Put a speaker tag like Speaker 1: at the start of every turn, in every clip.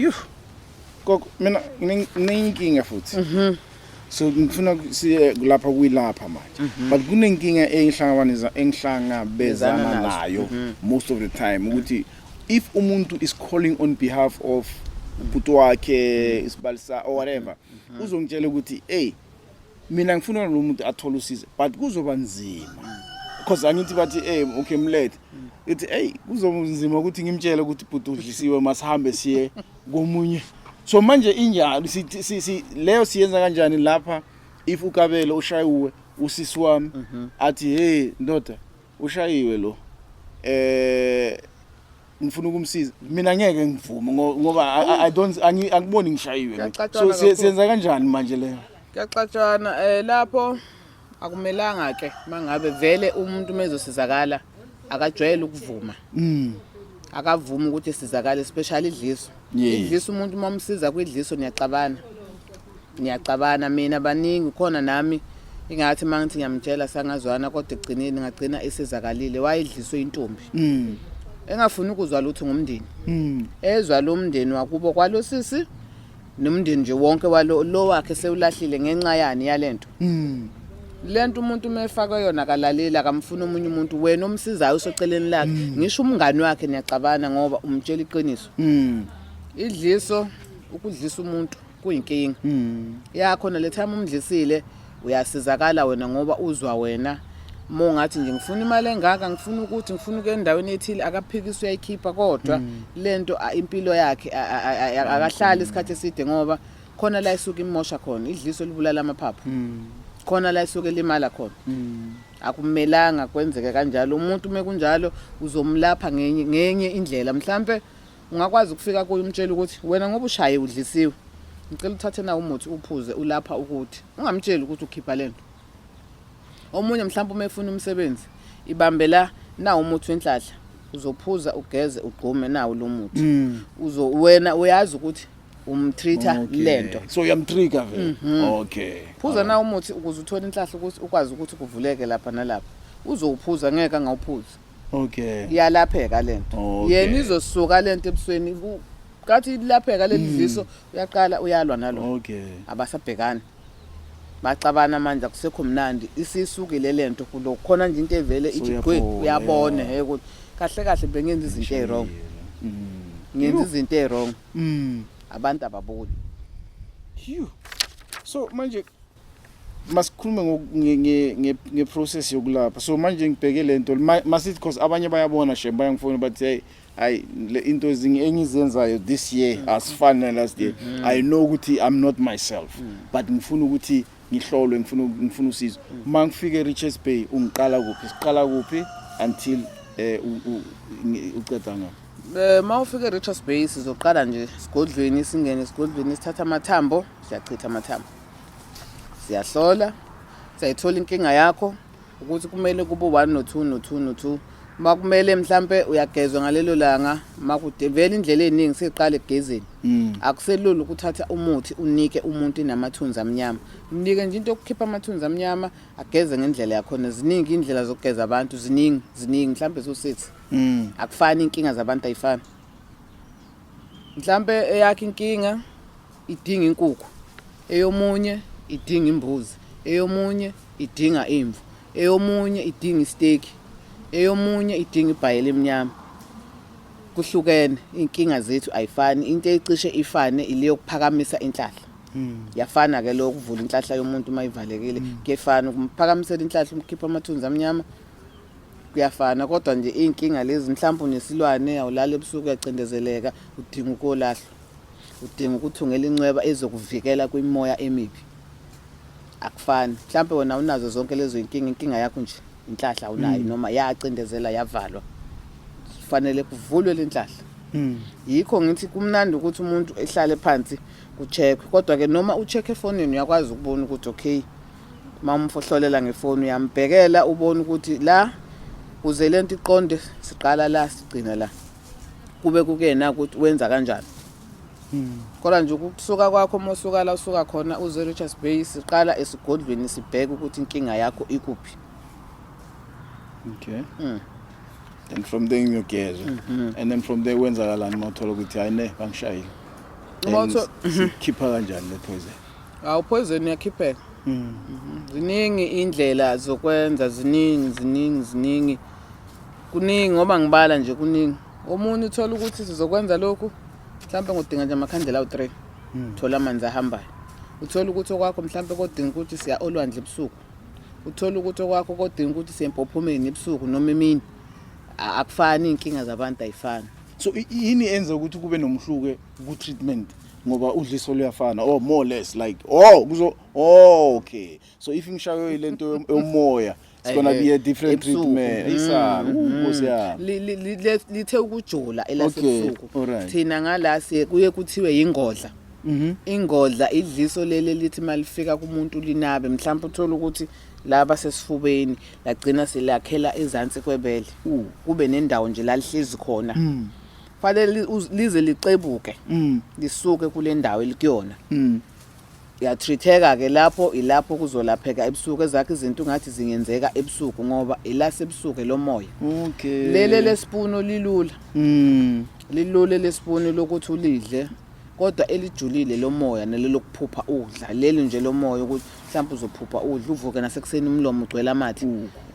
Speaker 1: Yuh. Gogo mina nginenkinga futhi. Mhm. So ngifuna siye lapha kuyilapha manje. Mhm. But kunenkinga engihlangabaniza engihlangabezana nayo mhm. most of the time ukuthi if umuntu is calling on behalf of ubhuti wakhe isibali sa or whatever uzongitshela ukuthi hey mina ngifuna lo muntu athole usizo but kuzoba nzima because angithi bathi eh okay mlethe ithi hey kuzonzima ukuthi ngimtshele ukuthi bhuti udlisiwe masihambe siye komunye so manje injalo si leyo siyenza kanjani lapha if ukabelo ushayuwe usisi wami mhm. athi hey ndoda ushayiwe lo eh ngifuna ukumsiza mina ngeke ngivume ngoba i don't angiboni ngishayiwe so siyenza kanjani manje leyo kuyaxatshana um
Speaker 2: lapho akumelanga ke mangabe vele umuntu mezosizakala akajwayele ukuvuma mm. akavumi ukuthi sizakale especially idliso idlisa umuntu uma umsiza kwidliso niyacabana niyacabana mina baningi khona nami ingathi uma ngithi ngiyamtshela sangazwana kodwa ekugcineni ngagcina esizakalile wayedliswe intombi mm. engafuni ukuzwa lutho ngomndeni mm. ezwa lo mndeni wakubo kwalo sisi nomndeni nje wonke walo lo wakhe sewulahlile ngenxa yani yalento mm. lento umuntu umefaka yona kalaleli akamfuni omunye umuntu wena omsizayo usoceleni lakhe mm. ngisho umngani wakhe niyacabana ngoba umtshela iqiniso Mm. Idliso ukudlisa umuntu kuyinkinga. Mm. Ya khona le time umdlisile uyasizakala wena ngoba uzwa wena. Uma ungathi nje ngifuna imali engaka ngifuna ukuthi ngifuna ukuya endaweni ethile akaphikisi uyayikhipha kodwa mm. lento impilo yakhe akahlali isikhathi eside ngoba khona la isuke imosha khona idliso libulala amaphaphu. Mm. Khona la isuke limala khona. Mm. akumelanga kwenzeke kanjalo umuntu uma kunjalo uzomlapha ngenye ngenye indlela mhlampe ungakwazi ukufika kuye umtshela ukuthi wena ngoba ushaye udlisiwe ngicela uthathe na umuthi uphuze ulapha ukuthi ungamtsheli ukuthi ukhipha lento omunye mhlawumbe uma efuna umsebenzi ibambe la na umuthi wenhlahla uzophuza ugeze ugqume nawo lo muthi uzo wena uyazi ukuthi umtreater Okay. lento so uyamtrigger vele
Speaker 1: Mhm. okay phuza na umuthi
Speaker 2: ukuze uthole inhlahla ukuthi ukwazi ukuthi kuvuleke lapha nalapha uzowuphuza ngeke angawuphuza okay
Speaker 1: iyalapheka lento
Speaker 2: Okay. yena izosuka lento ebusweni ku- kathi ilapheka leli Mm. dliso uyaqala uyalwa nalo okay abasabhekani baxabana manje akusekho mnandi isisukile le nto kulo khona nje into evele ithi gwe uyabona he ukuthi kahle kahle bengenza izinto e-wrong ngenza izinto e-wrong mm. abantu ababoni
Speaker 1: so manje masikhulume nge-process yokulapha so manje ngibheke le nto masithi because abanye bayabona shem bayangifona bathi hey I into ezinye engizenzayo this year mm. as far as last year mm -hmm. I know ukuthi I'm not myself mm. but ngifuna ukuthi ngihlolwe ngifuna ngifuna usizo mm. uma ngifike Richards Bay ungiqala kuphi siqala kuphi until eh uqeda ngapha Eh mawufika eRichards
Speaker 2: Bay sizoqala nje sigodlweni singene sigodlweni sithatha amathambo siyachitha amathambo siyahlola siyayithola inkinga yakho ukuthi kumele kube u-1 no-2 no-2 no-2 uma kumele mhlampe uyagezwa ngalelo langa makude vele indlela eningi seqala egezeni mm. akuselula ukuthatha umuthi unike umuntu inamathunzi amnyama mnike nje into okukhipha amathunzi amnyama ageze ngendlela yakhona ziningi indlela zokugeza abantu ziningi ziningi mhlampe so6 mm. akufani inkinga zabantu ayifani mhlampe eyakhe inkinga idinga inkukhu eyomunye idinga imbuzi eyomunye idinga imvu eyomunye idinga isteki eyomunye idinga ibhayela emnyama kuhlukene inkinga zethu ayifani into ecishe ifane ile yokuphakamisa inhlahla hmm. yafana ke lo kuvula inhlahla yomuntu uma ivalekile hmm. kuyefana ukuphakamisela inhlahla umkhipha amathunzi amnyama kuyafana kodwa nje iy'nkinga lezi mhlawumbe unesilwane awulali ebusuku uyacindezeleka udinga ukolahlwa udinga ukuthi ungele incweba ezokuvikela kwimoya emibi akufani mhlawumbe wena unazo zonke lezo inkinga inkinga yakho nje inhlahla unayo mm. noma yacindezela yavalwa kufanele kuvulwe le nhlahla mm. yikho ngithi kumnandi ukuthi umuntu ehlale phansi kucheckwe kodwa-ke noma ucheck efonini uyakwazi ukubona ukuthi okay uma umfohlolela ngefoni uyambhekela ubone ukuthi la kuze le nto iqonde siqala la sigcina la kube kukuyena ukuthi wenza kanjani hmm. kodwa nje ukusuka kwakho uma usuka la usuka khona uze richards bay siqala esigodlweni sibheke ukuthi inkinga yakho ikuphi
Speaker 1: okay mm. and from there ngiyogezwa mm -hmm. and then from there kwenzakalani uma uthola ukuthi hayi ne bangishayile
Speaker 2: khipha
Speaker 1: kanjani le poison awu poison
Speaker 2: uyakhipheka mm. mm-hmm. ziningi indlela zokwenza ziningi ziningi ziningi Kuningi ngoba ngibala nje kuningi. Omunye uthola ukuthi sizokwenza lokhu mhlawumbe ngodinga nje amakhandlela awu-3 hmm. thola amanzi ahambayo uthole ukuthi okwakho mhlawumbe kodinga ukuthi siya olwandle ebusuku uthole ukuthi okwakho kodinga ukuthi siye empophomeni ebusuku noma emini akufani iy'nkinga zabantu ayifani so yini
Speaker 1: enza ukuthi kube nomhluke ku-treatment ngoba udliso luyafana or oh, more less like oh kuzo oh, okay so if ngishaywe ile nto yomoya It's gonna be a different Ebusuku. treatment. Isa, Mm, uh, Nkosi yami. Li- li- li- le- lithe
Speaker 2: ukujola Okay, elasebusuku alright. thina ngala siye kuye kuthiwe yingodla Mhm. ingodla idliso leli lithi malifika kumuntu linabe mhlawumbe uthola ukuthi laba sesifubeni lagcina selakhela ezansi kwebele Uh. kube nendawo nje lalihlezi khona Mm. fanele li- uz- lize licebuke Mm. lisuke kule ndawo elikuyona Mm. Uyatreateka ke lapho ilapho kuzolapheka ebusuku ezakhe izinto ungathi zingenzeka ebusuku ngoba ilasebusuku lomoya. Okay. Lele
Speaker 1: lesipunu
Speaker 2: lilula. Mm. Lilule lesipunu lokuthi ulidle kodwa elijulile lomoya nelokuphupha ukudla. Leli nje lomoya ukuthi mhlawumbe uzophupha udla uvuke nasekuseni umlomo ugcwele amathe.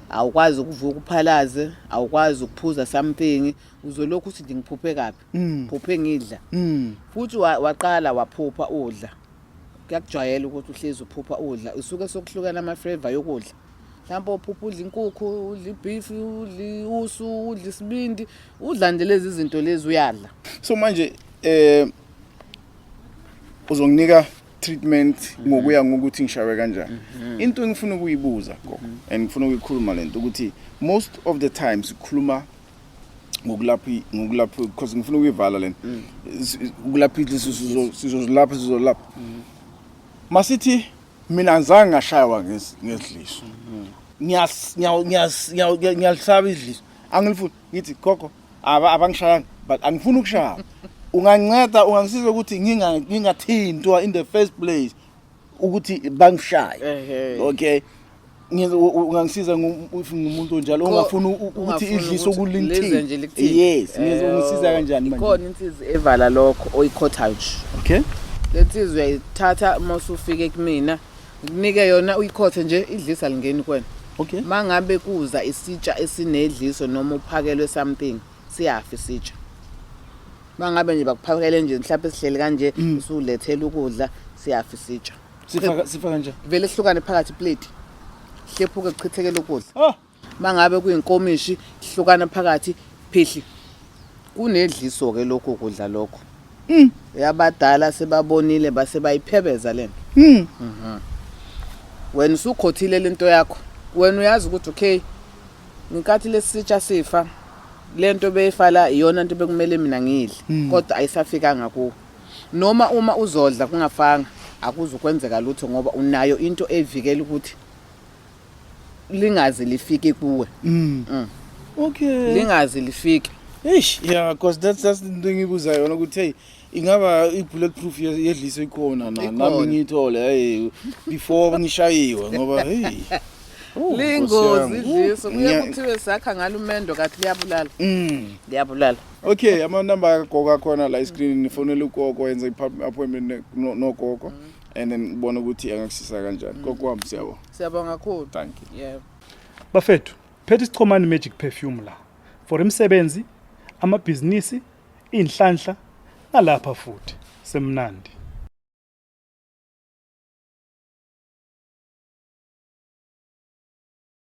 Speaker 2: Awukwazi ukuvuka uphalaze, awukwazi ukuphuza something. uzolokhu uthi nje ngiphuphe kabi Mm. phuphe ngidla Mm. futhi wa- waqala waphupha udla kuyakujwayela ukuthi uhlezi uphupha udla usuke sokuhlukana ama-flavor yokudla mhlawumpe uphupha udla inkukhu udla ibhifi udla usu udla isibindi udla nje lezi zinto lezi uyadla so manje
Speaker 1: eh uzonginika treatment Mhm. ngokuya ngokuthi ngishawe kanjani into engifuna ukuyibuza go Mhm. and ngifuna ukuyikhuluma lento ukuthi most of the time sikhuluma ngokulapha ngokulapha because ngifuna ukuyivala lena mm. ukulapha idliso sizozilapha sizolapha mm. masithi mina ngizange ngashaywa ngedliso mm. ngiyas ngiyas ngiyalisaba idliso angilifuni ngithi gogo aba abangishayanga but angifuni ukushaya unganceda ungangisiza ukuthi ngingathintwa in the first place ukuthi bangishaye okay ungangisiza ngumuntu onjalo ongafuni ukuthi idlise okulintini yes ngisiza eh, kanjani manje ikhona insizwa evala
Speaker 2: lokho oyikhothayo nje okay
Speaker 1: lensizwa
Speaker 2: uyayithatha uma usufike kumina ngikunike yona uyikhothe nje idlisa lingeni kwena okay mangabe
Speaker 1: kuza
Speaker 2: isitsha esinedliso noma uphakelwe something siyafa isitsha mangabe nje bakuphakele nje mhlawumbe sihleli kanje mm. usulethela ukudla siyafa isitsha sifa kanje
Speaker 1: vele sihlukane phakathi
Speaker 2: plate hlephuke kuchithekele ukudla oh. mangabe kuyinkomishi sihlukana phakathi phihli kunedliso ke lokho kudla lokho Mm. Yabadala sebabonile base bayiphebeza lento. Mm. Mhm. Wena usukhothile lento yakho. Wena uyazi ukuthi okay ngenkathi lesitsha sifa lento beyifala iyona into bekumele mina ngidle mm. kodwa ayisafikanga kuwe. Noma uma uzodla kungafanga akuzukwenzeka lutho ngoba unayo into evikela ukuthi lingaze lifike kuwe mm. Mm.
Speaker 1: okay lingaze
Speaker 2: lifike eish yeah because
Speaker 1: that's that's the thing ibuza yona ukuthi hey ingaba i-bullet proof yedliso ikhona na nami ngiyithole hey before ngishayiwe ngoba hey oh,
Speaker 2: lingozi idliso kuye kuthiwe sakha ngalo umendo kathi liyabulala mm. liyabulala okay
Speaker 1: amanamba agoka khona la iscreen nifonela ugogo yenza i-appointment nogogo and then ubona ukuthi angakusisa kanjani mm. kokwami siyabo siyabonga kakhulu
Speaker 2: thank you yeah bafethu
Speaker 3: phethe isichomani magic perfume la for imisebenzi amabhizinisi inhlanhla nalapha futhi semnandi